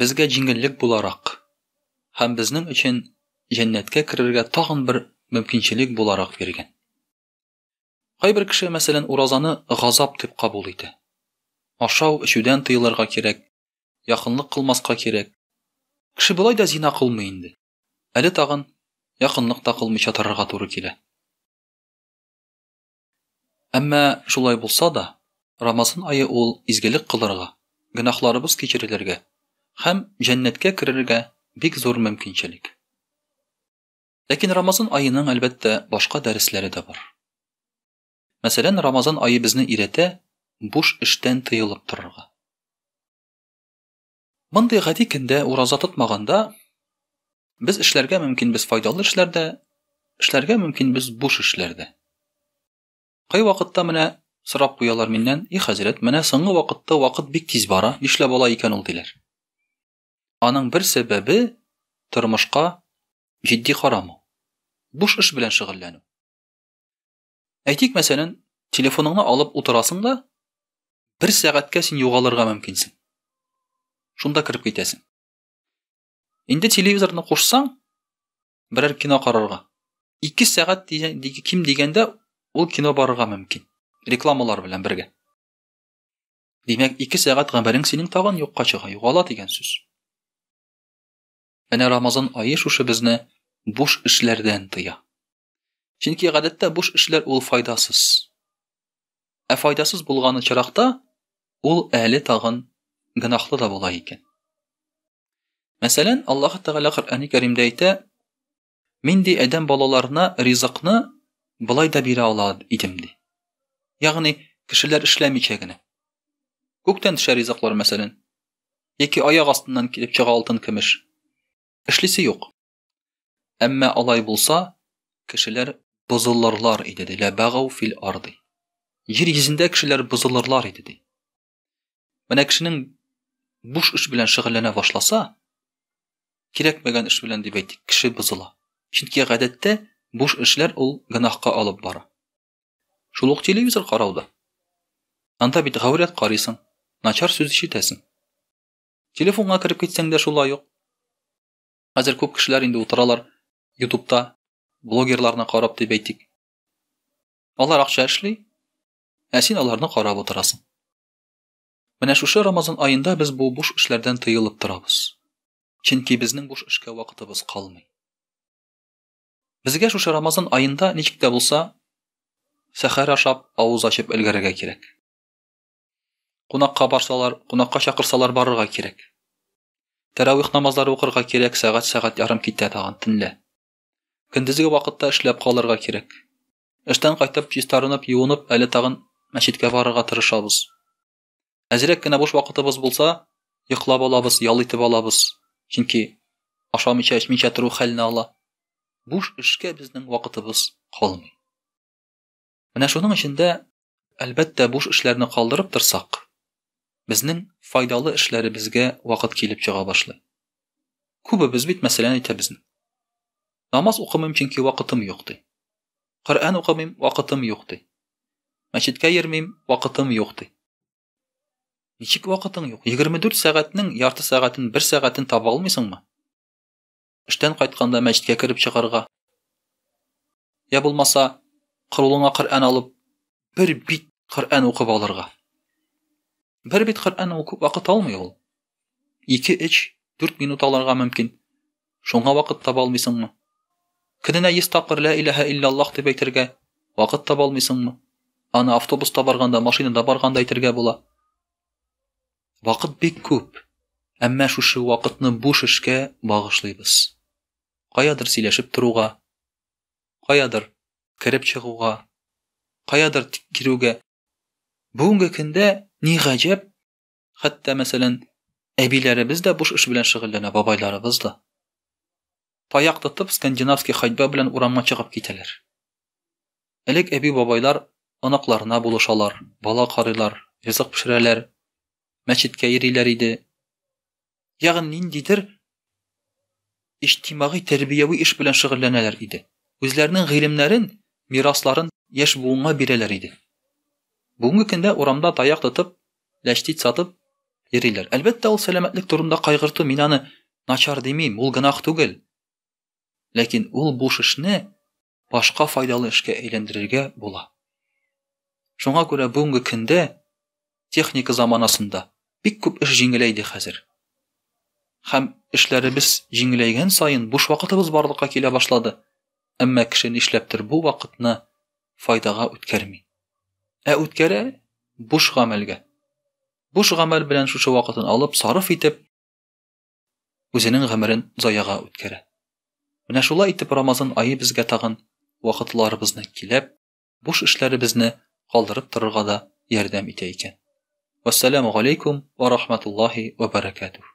Безгә җиңеллек буларак һәм безнең өчен җәннәткә керергә тагын бер мөмкинчелек буларак биргән. Кайбер кеше, мәсәлән, уразаны газап дип кабул итә. Ашау, эчүдән тыелырга кирәк, якынлык кылмаска кирәк. Кеше болай да зина кылмый инде. Әле тагын якынлык та кылмыйча торырга туры килә. Әмма шулай булса да, Рамазан ае ул изгелек кылырга, гөнаһларыбыз кичерелергә һәм җәннәткә керергә бик зур мөмкинчелек. Ләкин Рамазан аеның, әлбәттә, башка дәресләре дә бар. Мәсәлән, Рамазан ае безне өйрәтә буш эштән тыелып торырга. Мондый гади көндә ураза тотмаганда без эшләргә мөмкин без файдалы эшләрдә, эшләргә мөмкин без буш эшләрдә. Кай вакытта менә сорап куялар миннән, и хәзрәт, менә соңгы вакытта вакыт бик тиз бара, нишләп бала икән ул диләр. Аның бер сәбәбе тормышка җитди карамау. Буш эш белән шөгыльләнү. Әйтик, мәсәлән, телефоныңны алып утырасың да, бер сәгатькә син югалырга мөмкинсең. Шунда кереп китәсең. Инде телевизорны кушсаң, берәр кино карарга. 2 сәгать ким дигәндә ул кино барырга мөмкин. Рекламалар белән бергә. Димәк, 2 сәгать гомерең синең тагын юкка чыга, югала дигән сүз. Әнә Рамазан ае шушы безне буш эшләрдән тыя. Чөнки гадәттә буш эшләр ул файдасыз. Ә файдасыз булган очракта ул әле тагын гынахлы да була икән. Мәсәлән, Аллаһ Тәгалә Коръәни Кәримдә әйтә: "Мин ди адәм балаларына ризыкны былай да бирә ала идем" ди. Ягъни, кешеләр эшләмичә генә. Күктән төшә ризыклар, мәсәлән, яки аяк астыннан килеп чыга алтын-көмеш. Эшлисе юк. Әмма алай булса, кешеләр бозылырлар иде, ди. Ләбәгау фил арды. Җир йөзендә кешеләр бозылырлар иде, ди. Менә кешенең буш эш белән шөгыльләнә башласа, кирәкмәгән эш белән дип әйтик, кеше бозыла. Чөнки гадәттә буш эшләр ул гөнаһка алып бара. Шул ук телевизор карауда. Анда бит гаурәт карыйсың, начар сүз ишетәсең. Телефонга кереп китсәң дә шулай ук. Хәзер күп кешеләр инде утыралар ютубта блогерларны карап дип әйтик. Алар акча эшли, ә син аларны карап утырасың. Менә шушы Рамазан аенда без бу буш эшләрдән тыелып торабыз. Чөнки безнең буш эшкә вакытыбыз калмый. Безгә шушы Рамазан аенда ничек тә булса сәхәр ашап, авыз ачып өлгәрергә кирәк. Кунакка барсалар, кунакка чакырсалар барырга кирәк. Тәравих намазлары укырга кирәк, сәгать-сәгать ярым китә тагын төнлә. Көндезге вакытта эшләп калырга кирәк. Эштән кайтып, чистарынып, юынып, әле тагын мәчеткә барырга тырышабыз. Әзрәк кенә буш вакытыбыз булса, йоклап алабыз, ял итеп алабыз. Чөнки ашамыйча, эчмичә тору хәлне ала. Буш эшкә безнең вакытыбыз калмый. Менә шуның өчен дә, әлбәттә, буш эшләрне калдырып торсак, безнең файдалы эшләребезгә вакыт килеп чыга башлый. Күбебез бит мәсәлән әйтәбез. Намаз укымыйм, чөнки вакытым юк ди. Коръән укымыйм, вакытым юк ди. Мәчеткә йөрмим, вакытым юк ди. Ничек вакытың юк? 24 сәгатьнең ярты сәгатен, бер сәгатен таба алмыйсыңмы? Эштән кайтканда мәчеткә кереп чыгарга. Я булмаса, кырулыңа Коръән алып, бер бит Коръән укып алырга. Бер бит Коръән укып вакыт алмый ул. 2-3 4 минут алырга мөмкин. Шуңа вакыт таба алмыйсыңмы? Көненә 100 тапкыр ла илаһа иллаллах дип әйтергә вакыт таба алмыйсыңмы? Аны автобуста барганда, машинада барганда әйтергә була. Вакыт бик күп, әмма шушы вакытны буш эшкә багышлыйбыз. Каядыр сөйләшеп торуга, каядыр кереп чыгуга, каядыр кирүгә. Бүгенге көндә ни гаҗәп, хәтта мәсәлән, әбиләребез дә буш эш белән шөгыльләнә, бабайларыбыз да. таяк тотып, скандинавский ходьба белән урамга чыгып китәләр. Элек әби-бабайлар оныкларына булышалар, бала карыйлар, ризык пешерәләр, мәчеткә йөриләр иде. Ягъни ниндидер иҗтимагый тәрбияви эш белән шөгыльләнәләр иде. Үзләренең гыйлемнәрен, мирасларын яшь буынга бирәләр иде. Бүгенге көндә урамда таяк тотып, ләчтит сатып йөриләр. Әлбәттә, ул сәламәтлек турында кайгырту, мин аны начар димим, ул гынах түгел. Ләкин ул буш эшне башка файдалы эшкә әйләндерергә була. Шуңа күрә бүгенге көндә техника заманасында бик күп эш җиңеләйде хәзер. Хәм эшләребез җиңеләйгән саен буш вакытыбыз барлыкка килә башлады. әмма кеше нишләптер бу вакытны файдага үткәрми. Ә үткәрә буш гамәлгә. Буш гамәл белән шушы вакытын алып, сарыф итеп, үзенең гомерен заяга үткәрә. Менә шулай итеп Рамазан айы безгә тагын вакытларыбызны киләп, буш эшләребезне калдырып торырга да ярдәм итә икән. Вассаламу алейкум ва рахматуллахи ва баракатух.